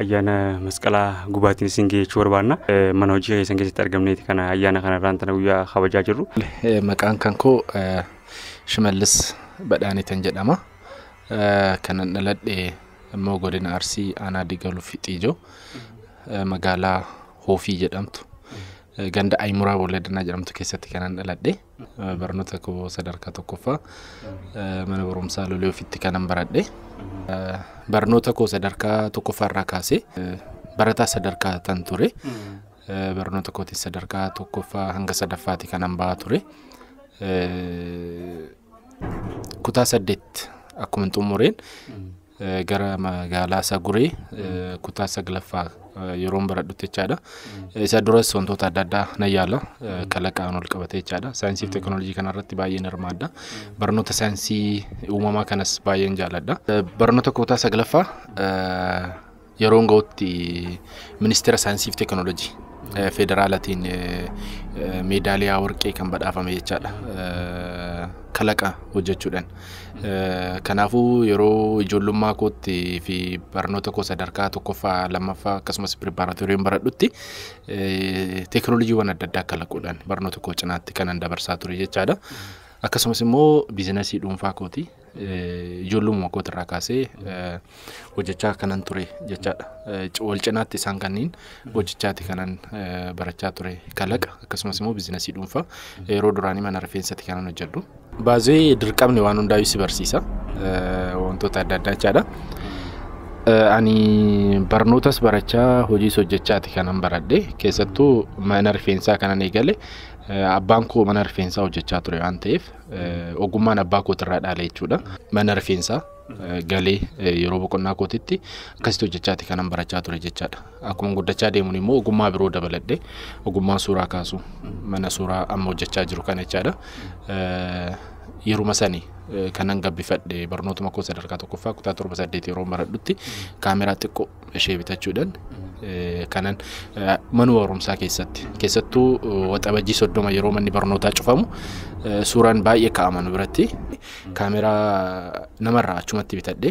ayyaana masqalaa gubaatiin isin geechuu barbaanna. Mana hojii keessan keessatti argamneeti kana ayyaana kana irraan tana guyyaa kabajaa jirru. Maqaan kan koo Shimallis Badhaaniitan jedhama. Kanan dhaladhe immoo godina Arsii aanaa Digaluu Fixiijoo magaalaa Hoofii jedhamtu ganda Ayimuraa Bolladanaa jedhamtu keessatti kanan dhaladhe. Barnoota koo sadarkaa tokkoffaa mana barumsaa Lolee Ofiitti kanan baradhe. Barnoota koo sadarkaa tokkoffaa irraa kaasee barataa sadarkaa tan ture. Barnoota kootis sadarkaa tokkoffaa hanga sadaffaati kanan bahaa ture. Kutaa saddeet akkuma xumureen gara magaalaa Saguree kutaa saglaffaa yeroon baradhutti jechaadha. Isa duras wantoota adda addaa nan yaala kalaqaan ol qabatee jechaadha. Saayinsii fi teekinooloojii kanarratti baay'een hirmaadha. Barnoota saayinsii uumamaa kanas baay'een jaaladha. Barnoota kutaa saglaffaa yeroon ga'utti ministeera saayinsii fi teekinooloojii eh, federaalatiin eh, eh, meedaaliyaa warqee kan badhaafame jechaadha. Eh, Kalaqa hojjechuudhaan. Eh, Kanaafuu yeroo ijoollummaa kootti fi barnoota koo sadarkaa tokkoffaa, lammaffaa akkasumas piriparaatooriin baradhutti eh, teekinooloojiiwwan adda addaa kalaquudhaan barnoota koo cinaatti kanan dabarsaa ture jechaadha. Akkasumas immoo biizinasii dhuunfaa kooti. Ijoollumuma kootirraa kaasee hojjechaa kanan ture jechaadha. Wal cinaatti isaan kanniin hojjechaati kanan barachaa ture kalaqa akkasumas immoo biizinasii dhuunfaa yeroo duraanii mana rifeensati kanan hojjedhu. Baazee dirqamni waan hundaayyuu si barsiisa wantoota adda addaa jechaadha. Ani barnootas barachaa hojiis hojjechaati kanan baradhe keessattuu mana rifeensaa kanan eegale abbaan koo mana rifeensaa hojjechaa ture waan ta'eef Ogummaan abbaa kootirraa dhaale jechuudha. Mana rifeensaa galee yeroo boqonnaa kootitti akkasitti hojjechaati kanan barachaa ture jechaadha. Akkuma guddachaa deemuun immoo ogummaa biroo dabaladhe ogummaa suuraa kaasu mana suuraa amma hojjechaa jiru kana jechaadha. Yeruma sani kanan gabbifadhe barnootuma koo sadarkaa tokkoffaa kutaa torba saddeet yeroo baradhutti kaameraa xiqqoo ishee bitachuudhaan kanan mana barumsaa keessatti keessattuu waxabajjii soddoma yeroo manni barnootaa cufamu suuraan baay'ee kaa'ama nu biratti kaameraa namarraa achumatti bitadhe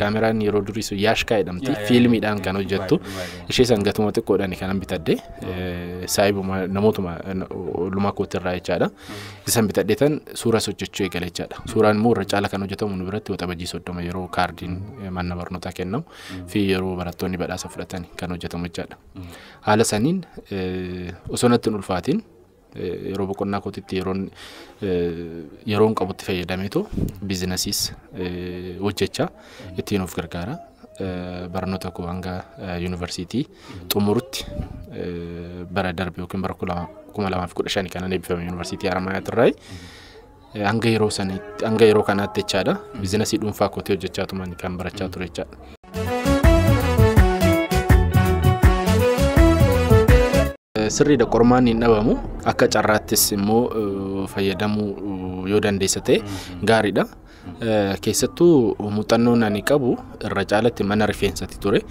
kaameraan yeroo durii sun yaashkaa jedhamti fiilmiidhaan kan hojjettu ishee san gatuma xiqqoodhaan kanan bitadhe saayibuma namootuma lumaa kootirraa jechaadha isan bitadhe tan suura sochachuu eegale jechaadha suuraan immoo irra caala kan hojjetamu nu biratti waxabajjii soddoma yeroo kaardiin mana barnootaa kennamu fi yeroo barattoonni badhaasa fudhatan kan hojjetamu jechaadha. Haala saniin osoo natti hin ulfaatiin yeroo boqonnaa kootitti yeroon yeroon qabutti fayyadameetu biizinasiis hojjechaa ittiin of gargaara. Barnoota koo hanga yuunivarsiitii xumurutti bara darbe yookiin bara kuma lamaaf kudha shani kanan eebbifame yuunivarsiitii Haramaayaa Tirraayi. Hanga yeroo saniitti hanga yeroo kanaatti jechaadha. Bizinasii dhuunfaa kootii hojjechaa tuman kan barachaa ture jechaadha. Sirriidha qormaanni hin dhabamu akka carraattis immoo eh, fayyadamuu eh, yoo dandeessa ta'e gaariidha. Eh, Keessattuu muuxannoon ani qabu irra caalatti mana rifeensati ture.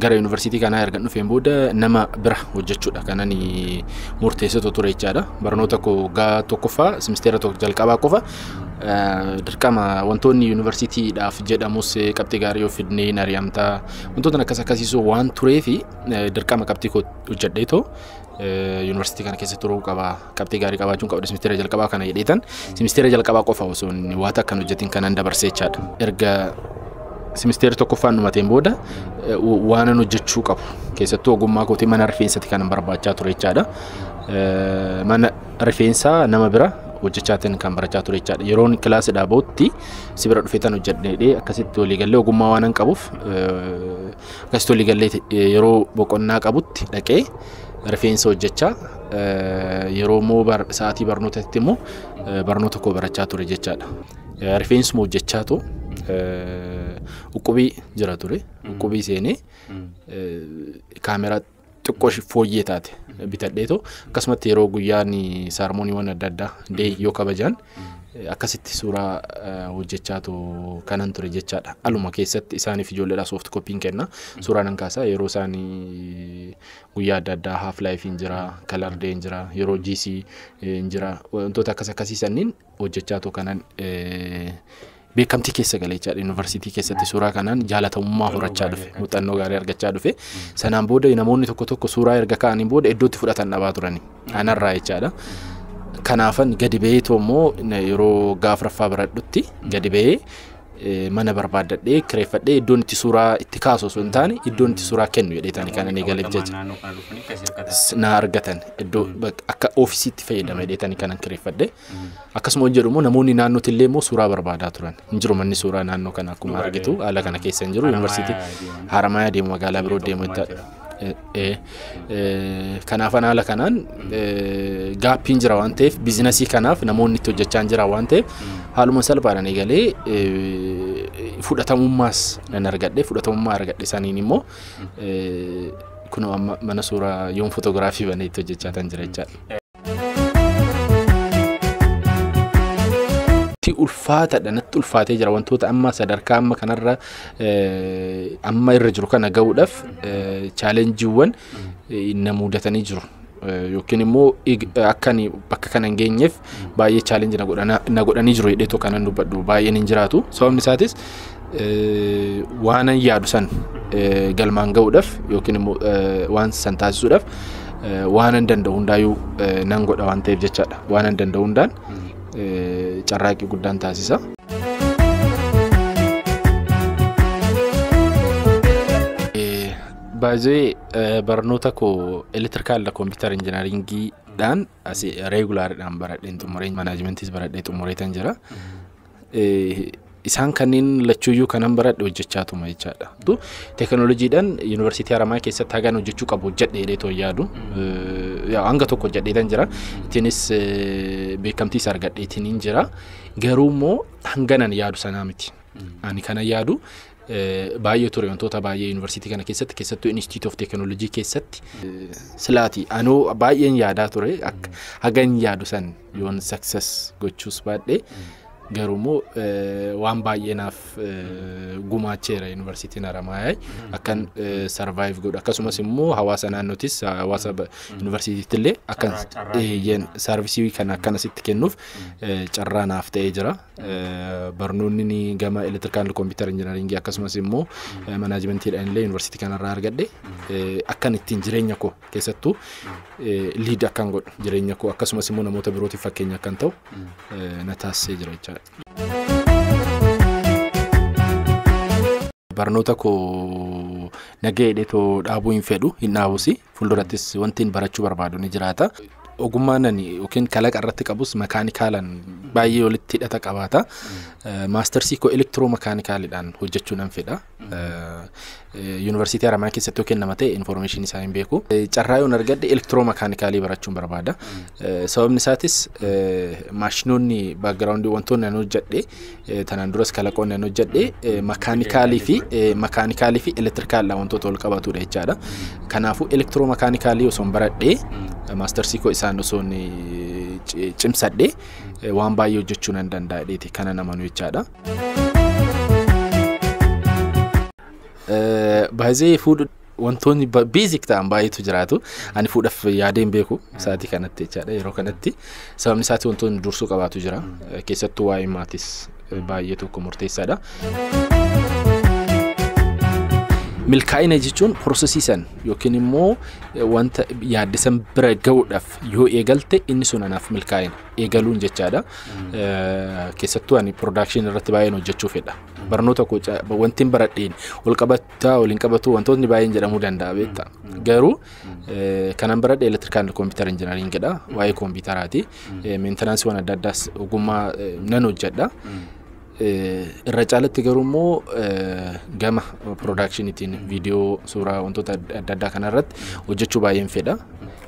gara yuunivarsiitii kanaa erga dhufeen booda nama bira hojjechuudha kan ani murteessitu ture jechaadha. Barnoota koo waggaa tokkoffaa simisteera tokko jalqabaa qofa dirqama wantoonni yuunivarsiitiidhaaf jedhamus qabxii gaarii yoo fidnee hin ari'amtaa wantoota akkas akkasiisuu waan tureefi dirqama qabxii koo hojjedhee too yuunivarsiitii kana keessa turuu qaba qabxii gaarii qabaachuun qabda simisteera jalqabaa kana jedheetan simisteera jalqabaa qofa osoo inni waa takka hin hojjetin kanaan dabarsee jechaadha. Erga simisteera tokkoffaan dhumateen booda eh, wa- waanan hojjechuu qabu keessattuu ogummaa kootii mana rifeensatti kanan barbaachaa ture jechaadha. Eh, Mana rifeensaa nama bira hojjechaatiin kan barachaa ture jechaadha. Yeroon kilaasidhaa bahutti si bira dhufeetan hojjedheedhee akkasitti waliigallee ogummaa waanan qabuuf eh, Akkasitti olii gallee yeroo boqonnaa qabutti dhaqee rifeensa hojjechaa yeroo immoo sa'aatii barnootatti immoo barnoota koo barachaa ture jechaadha. Rifeensuma hojjechaa too uqqubii jira ture. Uqqubii seenee kaameraa xiqqoo ishii fooyyee taate bitadheetoo akkasumatti yeroo guyyaan saarmooniiwwan adda addaa dee yoo kabajaan akkasitti suuraa eh, hojjechaatu kanan ture jechaadha. Aluma keessatti isaaniif ijoolleedhaa soft koppiin kenna. Suuraa nan kaasaa yeroo isaan eh, guyyaa adda addaa half life hin jira, color day hin jira, yeroo GC eh, hin jira. Wantoota akkas akkasii sanniin hojjechaa too kanan beekamtii keessa gale jechaadha. Yuunivarsiitii keessatti suuraa kanaan jaalatamummaa horachaa dhufe. Muuxannoo gaarii argachaa dhufe. Sanaan booda namoonni tokko tokko suuraa erga ka'aniin booda iddootti fudhatan dhabaa turani. Anarraa jechaadha. Kanaafan gadi ba'eetu immoo yeroo gaafraffaa baradhutti gadi ba'ee mana barbaaddadhee kireeffadhee iddoon itti suuraa itti kaasu osoo hin taane iddoon itti suuraa kennu jedheetani kan inni galeef jecha na argatan iddoo akka oofisiitti fayyadama jedheetani kanan kireeffadhe akkasuma hojjedhu immoo namoonni naannootti illee immoo suuraa barbaadaa turan hin jiru manni suuraa naannoo kana akkuma argitu haala kana keessa hin jiru yuunivarsiitii haramaayaa deemu magaalaa biroo deemu itti Kanaaf haala kanaan gaappiin jira waan ta'eef biizinasii kanaaf namoonni itti hojjechaa hin jiran waan ta'eef haaluma salphaadhaan eegalee fudhatamummaas nan argadhe fudhatamummaa argadhe saniin immoo kunoo amma mana suuraa yoon fotoogiraafii banee itti hojjechaa tan jira jechaadha. Ti ulfaatadha natti ulfaatee jira wantoota amma sadarkaa amma kanarra eh, amma irra jiru kana ga'uudhaaf eh, chaalenjiiwwan eh, na muudatanii jiru. Eh, Yookiin immoo ig- akka ani bakka kana hin geenyeef baay'ee chaalenji na godhana- na godhanii jiru jedheetoo kanan dubbadhu baay'een hin jiraatu. Sababni isaatis waanan yaadu san galmaan ga'uudhaaf yookiin immoo waan san taasisuudhaaf waanan danda'u hundaayuu nan godha waan ta'eef jechaadha. Waanan danda'u hundaan carraaqqii guddaan taasisa. Baay'ee barnoota koo elektirikaal kompiitar injinaringiidhaan asii reegulaariidhaan baradheen xumuree manaajimentis baradhee xumureetan jira. isaan kanneen lachuuyyuu kanan baradhe hojjechaa tuma jechaadha. Teekinooloojiidhaan yuunivarsiitii Haramaa keessatti hagaan hojjechuu qabu hojjedhe jedhee too yaadu. Hanga tokko hojjedheetan jira. Ittiinis beekamtiis argadheetiin jira. Garuu immoo hanganan yaadu sanaa miti. Ani kana yaadu baay'ee ture wantoota baay'ee yuunivarsiitii kana keessatti keessattuu Inistiitiyuut of Teekinooloojii keessatti silaati anuu baay'een yaadaa ture hagan yaadu san Yoon success gochuus baadhe garuumoo waan baay'ee naaf gumaacheera yuunivarsiitiin Haramaayaa akkan survive godhu akkasumas immoo hawaasa naannootis hawaasa yuunivarsiitiitti illee akkan eeyyeen saarvisii kan akkana sitti kennuuf carraa naaf ta'ee jira. Barnoonni ni gama elektirikaal kompiitar injinaringii akkasumas immoo manaajimantiidhaan illee yuunivarsiitii kanarraa argadhe akkan ittiin jireenya koo keessattuu liid akkan godhu jireenya koo akkasumas immoo namoota birootiif fakkeenya akkan ta'u na taasisee jira jechaadha. Barnoota koo nagahee too dhaabuu hin fedhu hin dhaabus fuuldurattis wanti hin barachuu barbaadu ni jiraata. Ogummaan ani yookiin kalaqa irratti qabus makaanikaalaan baay'ee walitti hidhata qabaata. Maastarsii koo elektiroo makaanikaaliidhaan hojjechuu nan fedha. Yuunivarsiitii Haramaayaa keessatti yoo kennama ta'e infoormeeshinii isaa hin beeku. Carraa yoon argadhe elektiroo makaanikaalii barachuun barbaada. Sababni isaatis maashinoonni baakgiraawundii wantoonni ani hojjedhe tanaan duras kalaqoonni ani hojjedhe makaanikaalii fi makaanikaalii fi elektirikaaldha wantoota wal qabatudha jechaadha. Kanaafuu elektiroo makaanikaalii osoo hin baradhe maastarsii koo isaan osoo cimsadhe waan baay'ee hojjechuu nan danda'a dheeti kana namanu jechaadha. Baay'ee fuudha wantoonni beezik ta'an baay'eetu jiraatu. Ani fuudhaaf yaadee hin beeku sa'aatii kanatti jechaadha yeroo kanatti. Sababni isaati wantoonni dursuu qabaatu jira. Keessattuu waa'ee maatis baay'ee tokko murteessaadha. Milkaa'ina jechuun prosesii san yookiin immoo wanta yaadde san bira ga'uudhaaf yoo eegalte inni sun anaaf milkaa'ina. eegaluun jechaadha. Keessattuu ani production irratti baay'een hojjechuu fedha. Barnoota koo wanti hin baradheen wal qabataa wal hin qabatuu wantootni baay'een jedhamuu danda'a beekta. Garuu kanan baradhe elektirikaal kompiitara injinariingidha. Waa'ee kompiitaraati. Meentanaansiiwwan adda addaas ogummaa nan hojjedha. Irra caalatti garuu immoo gama piroodaakshiniitiin viidiyoo suuraa wantoota adda addaa kanarratti hojjechuu baay'een fedha.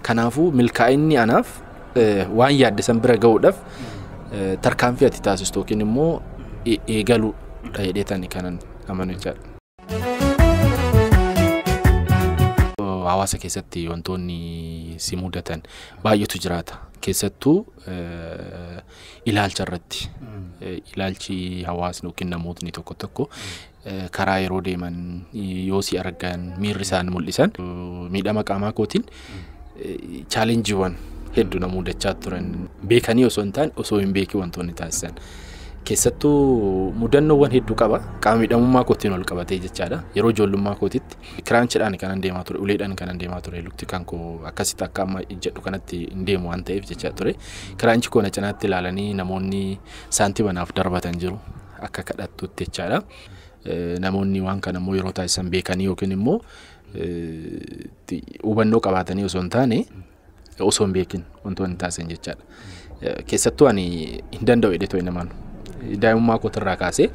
Kanaafuu milkaa'inni anaaf waan yaadde san bira ga'uudhaaf tarkaanfii ati taasistu yookiin immoo eegaluu dha jedhee tani kanan amanu jechaadha. hawaasa keessatti wantoonni si mudatan baay'eetu jiraata. Keessattuu ilaalcha irratti ilaalchi hawaasni yookiin namootni tokko tokko karaa yeroo deeman yoo si argan miirri isaan mul'isan miidhama qaamaa kootiin chaalenjiiwwan heddu na mudachaa turan beekanii osoo hin taane osoo hin beekin wantoonni taasisan. Keessattuu mudannoowwan hedduu qaba. Qaama miidhamummaa kootiin ol qabatee jechaadha. Yeroo ijoollummaa kootitti kiraanchidhaan kanan deemaa ture, uleedhaan kanan deemaa ture. Lukti kan koo akkasitti akka amma ijjadhu kanatti hin deemu waan ta'eef jechaa ture. Kiraanchi koo na cinaatti ilaalanii namoonni saantima naaf darbatan jiru. Akka kadhattutti jechaadha. Namoonni waan kana immoo yeroo taasisan beekanii yookiin immoo hubannoo qabaatanii osoo hin taane osoo hin beekin wantoonni taasisan jechaadha. Keessattuu ani hin danda'u jedhee too'e namaan. Daa'imummaa kootirraa kaasee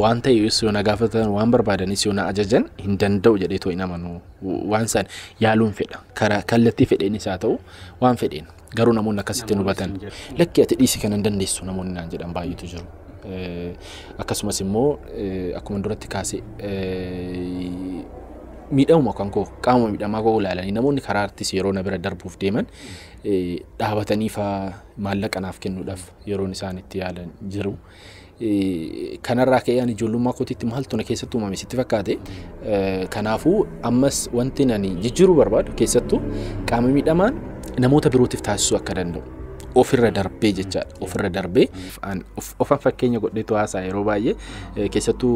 waan ta'e yoo na gaafatan waan barbaadanis yoo na ajajan hin danda'u jedhee too'e namaan waan isaan yaaluun fedha. Karaa kallattii fedheenis haa ta'u waan fedheen. Garuu namoonni akkasitti nu batan lakki ati dhiisi kana hin dandeessu namoonni naan jedhan baay'eetu jiru. Akkasumas immoo akkuma duratti kaase miidhamuma kan koo qaama miidhamaa koo ilaalanii namoonni karaa artis yeroo na bira darbuuf deeman dhaabatanii faa maallaqa naaf kennuudhaaf yeroon isaan itti yaalan jiru. Kanarraa ka'ee ani ijoollummaa kootiitti maaltu na keessatti uumame sitti fakkaate. Kanaafuu ammas wanti ani jijjiiruu barbaadu keessattuu qaama miidhamaan namoota birootiif taasisuu akka danda'u. Ofirra darbee jechaadha. Ofirra darbee ofan fakkeenya godheetu haasaa yeroo baay'ee keessattuu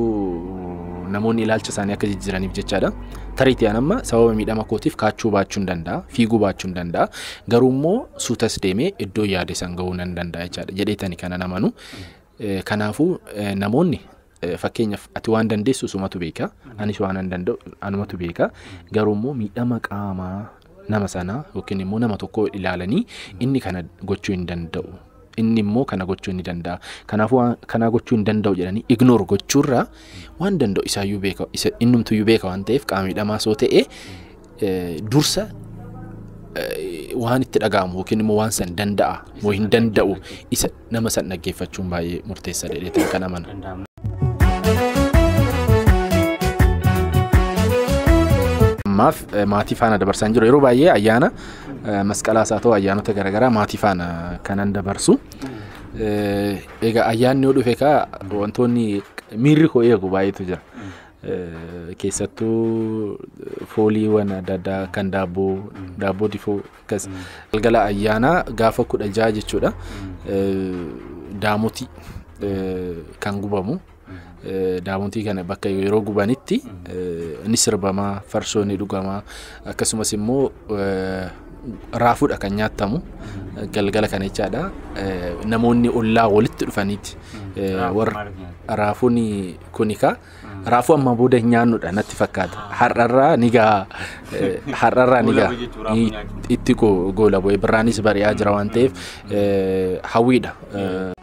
namoonni ilaalcha isaanii akka jijjiiraniif jechaadha. Tariitii an amma sababa miidhama kootiif kaachuu baachuu hin danda'a, fiiguu baachuu hin danda'a. Garuu immoo suutas deemee iddoo yaade san ga'uu nan danda'a jechaadha jedheetani kanan amanu. Eh, Kanaafuu eh, namoonni eh, fakkeenyaaf ati waan dandeessu sumatu beeka anis waan an danda'u anumatu beeka garuu immoo miidhama qaamaa nama sanaa yookiin immoo nama tokko ilaalanii inni kana gochuu hin danda'u Inni immoo kana gochuu inni danda'a. Kanaafuu waan kanaa gochuu hin danda'u jedhanii ignore gochuurra waan danda'u isaayyuu beeka isa innumtuyyuu beeka waan ta'eef qaama miidhamaa soo ta'e eh, dursa eh, waan itti dhaga'amu yookiin immoo waan san danda'a moo hin danda'u isa nama san dhaggeeffachuun baay'ee murteessaadha jedhee kan amana. ammaaf eh, maatii faana dabarsaa hin jiru yeroo baay'ee ayyaana eh, masqalaas haa ta'u ayyaanota garaagaraa maatii faana kanan dabarsu Eh, egaa ayyaanni yoo dhufe kaa wantoonni miirri koo eegu baay'eetu jira Eh, keessattuu fooliiwwan adda addaa kan daabboo daabboo difoo Akkas galgala ayyaanaa gaafa kudha jaha jechuudha. Daamotii kan gubamu. Daamotii kana bakka yeroo gubanitti ni sirbama, farsoo ni dhugama. Akkasumas immoo raafuudha kan nyaatamu galgala kana jechaadha. Namoonni ollaa walitti dhufaniiti. Raafuun kun egaa Raafuu ammaa booda hin nyaannudha natti fakkaata. Har'arraa ni gahaa. Eh, Har'arraa ni gahaa. Goolabuu jechuun raafuu Ni- nyaachuun. Itti go- goolabuu. Birraanis bari'aa jira waan ta'eef eh, hawwiidha. Eh,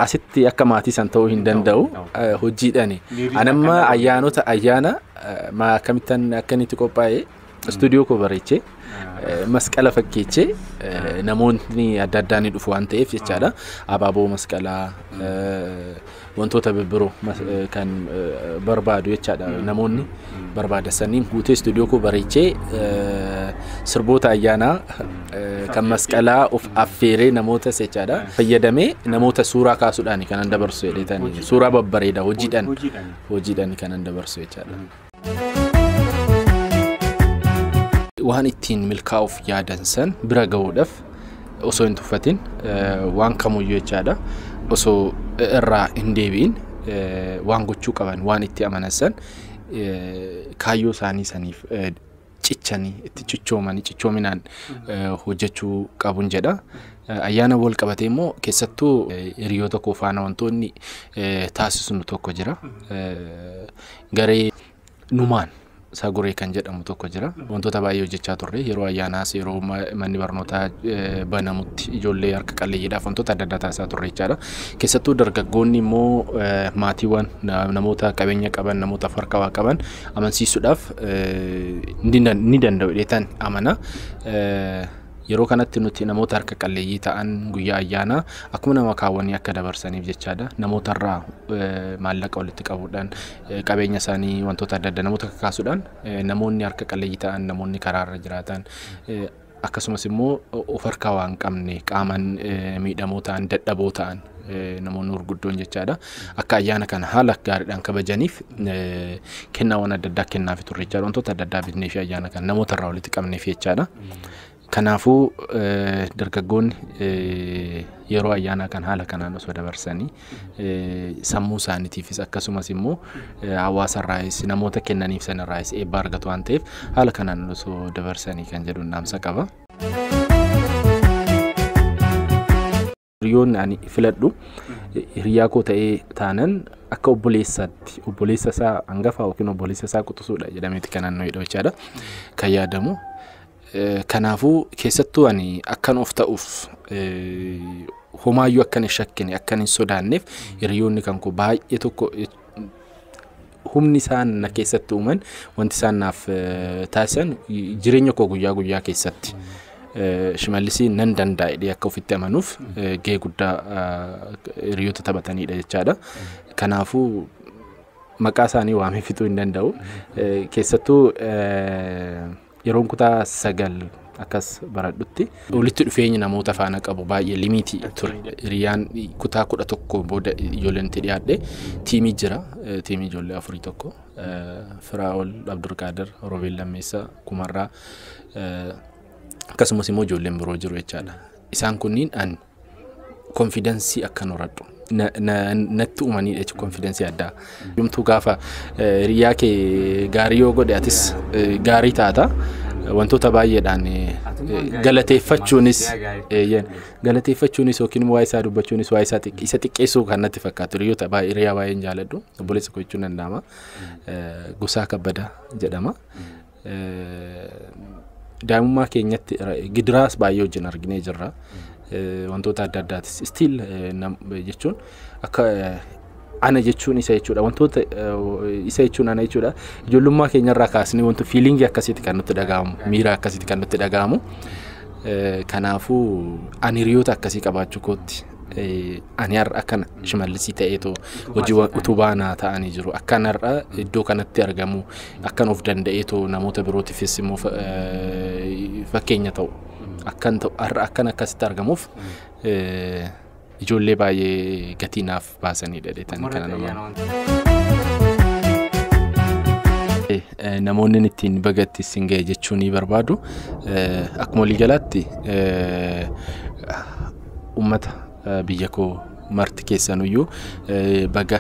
Asitti akka maatii san ta'uu hin danda'u eh, hojiidhaani. Miirri Anamma akkanaa ayyaanota ayyaana eh, maa akkamittan akka inni itti qophaa'e Istuudiyoo koo bareechee masqala fakkeechee namoonni adda addaa ni dhufu waan ta'eef jechaadha. Abaaboo masqalaa wantoota birbiroo kan barbaadu jechaadha namoonni barbaada saniin guutee istuudiyoo koo bareechee sirboota ayyaanaa kan masqalaa of affeeree namoota jechaadha fayyadamee namoota suuraa kaasuudhaan kanan dabarsu jedheetan suuraa babbareeda hojiidhaan hojiidhaan kanan dabarsu jechaadha. waan ittiin milkaa'uuf yaadan san bira gahuudhaaf osoo hin tuffatin waan kamuyyuu jechaadha osoo irraa hin deebi'in waan gochuu qaban waan itti amanan san kaayyoo isaanii saniif cichanii itti cichoomanii cichoominaan hojjechuu qabun jedha. Ayyaana wal qabatee immoo keessattuu hiriyoo tokko faana wantoonni taasisnu tokko jira. Garee numaan isaa goree kan jedhamu tokko jira. Wantoota baay'ee hojjechaa turre yeroo ayyaanaas yeroo manni barnootaa banamutti ijoollee harka qalleeyyiidhaaf wantoota adda addaa taasisaa turre jechaadha. Keessattuu dargaggoonni immoo maatiiwwan namoota qabeenya qaban namoota harka waa qaban amansiisuudhaaf ni danda'u jedheetan amana. Yeroo kanatti nuti namoota harka qalleeyyii ta'an guyyaa ayyaanaa akkuma nama kaawwanii akka dabarsaniif jechaadha. Namoota irraa maallaqa walitti qabuudhaan qabeenya isaanii wantoota adda addaa namoota kakaasuudhaan namoonni harka qalleeyyii ta'an namoonni karaarra jiraatan akkasumas immoo of harkaa waan qabne qaamaan miidhamoo ta'an dadhaboo ta'an namoonni gurguddoon jechaadha akka ayyaana kana haala gaariidhaan kabajaniif kennaawwan adda addaa kennaafi turre jechaadha wantoota adda addaa bitnee fi ayyaana kana namoota irraa walitti qabneef jechaadha. Kanaafuu dargaggoonni yeroo ayyaanaa kan haala kanaan osoo dabarsanii sammuu isaaniitiifis akkasumas immoo hawaasa irraayis namoota kennaniif sana irraayis eebba argatu waan ta'eef haala kanaan osoo dabarsanii kan jedhu dhaamsa qaba. Hiriyoonni ani filadhu hiriyaa koo ta'ee taanan akka obboleessaatti obboleessa isaa hangafaa yookiin obboleessa isaa quxusuudha jedhameeti kan naannoo hidha jechaadha kan yaadamu. Kanaafuu keessattuu ani akkan of ta'uuf homaayyuu akkan hin shakkine akkan hin sodaanneef hiriyoonni kan koo baay'ee tokko humni isaan na keessatti uuman wanti isaan naaf taasisan jireenya koo guyyaa guyyaa keessatti shimallisii nan dandaa'e akka ofitti amanuuf gahee guddaa hiriyoota taphatanidha jechaadha. Kanaafuu maqaa isaanii waamee fixuu hin danda'u. Keessattuu Yeroon kutaa sagal akkas baradhutti walitti dhufeenyi namoota faana qabu baay'ee limiitii ture. Hiriyaan kutaa kudha tokko booda ijoolleen itti dhiyaadhe tiimii jira. Tiimii ijoollee afurii tokko. Firaa'ol Abdurqaadir, Roobeel Lammeessaa, Kumarraa akkasumas immoo ijoolleen biroo jiru jechaadha. Isaan kunniin ani konfidansii akkan horadhu natti uumanii jechuun konfidansii addaa. Yomtuu gaafa hiriyaa kee gaarii yoo godhe atis gaarii taata. Wantoota baay'eedhaan galateeffachuunis galateeffachuunis yookiin waa'ee isaa dubbachuunis waa'ee isaa isa xiqqeessuu kan natti fakkaatu hiriyoota baay'ee hiriyaa baay'een jaaladhu obboleessa koo jechuun danda'ama. Gosaa kabbadaa jedhama. daa'imummaa keenyatti gidiraas baay'ee wajjin arginee jirra. Wantoota adda addaatis stiil jechuun akka ana jechuun isa jechuudha. Wantoota isa jechuun ana jechuudha. Ijoollummaa keenyarraa kaasnee wanti fiiliingii akkasitti kan nutti dhaga'amu miira akkasitti kan nutti dhaga'amu. Kanaafuu ani hiriyoota akkasii qabaachuu kootti Ani har'a akkana shimallisii ta'eetu hojii utubaa naa ta'anii jiru. Akkan har'a iddoo kanatti argamu akkan of danda'eetu namoota birootiifis immoo fakkeenya ta'u. Akkan ta'u har'a akkan akkasitti argamuuf ijoollee baay'ee gatii naaf baasanii dhadheetan kana nama. Namoonni ittiin bagatti isin ga'e jechuu ni barbaadu. Akkuma waliigalaatti Ummata biyya koo marti keessanuyyuu baga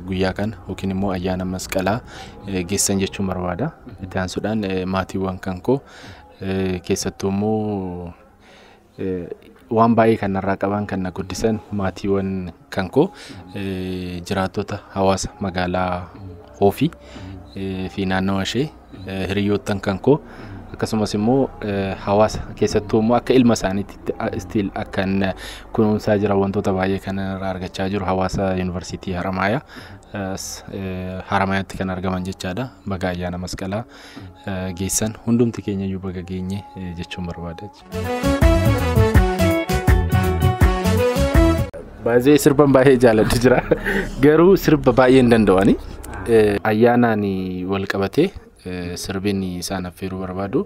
guyyaa kana yookiin immoo ayyaana masqalaa geessan jechuun barbaada. Itti aansuudhaan maatiiwwan kan koo keessattuu immoo waan baay'ee kan narraa qaban kan na guddisan maatiiwwan Kan koo jiraattota hawaasa magaalaa Hoofii fi naannawa ishee hiriyoottan kan koo akkasumas immoo hawaasa keessattuu immoo akka ilma isaaniitti istiil akkan kunuunsaa jira wantoota baay'ee kan irraa argachaa jiru hawaasa yuunivarsiitii Haramaayaa Haramaayaatti kan argaman jechaadha baga ayyaana masqalaa geessan hundumti keenya iyyuu baga geenye jechuun barbaada. Baay'ee sirban baay'ee jaaladhu jira. Garuu sirba baay'ee hin danda'ani. Ayyaanaan wal qabatee eh, sirbiin isaan affeeruu barbaadu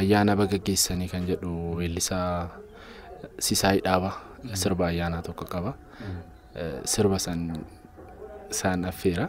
ayyaana baga geessanii kan jedhu weellisaa Sisaay Dhaaba sirba ayyaanaa tokko qaba. Eh, Sirba san isaan affeera.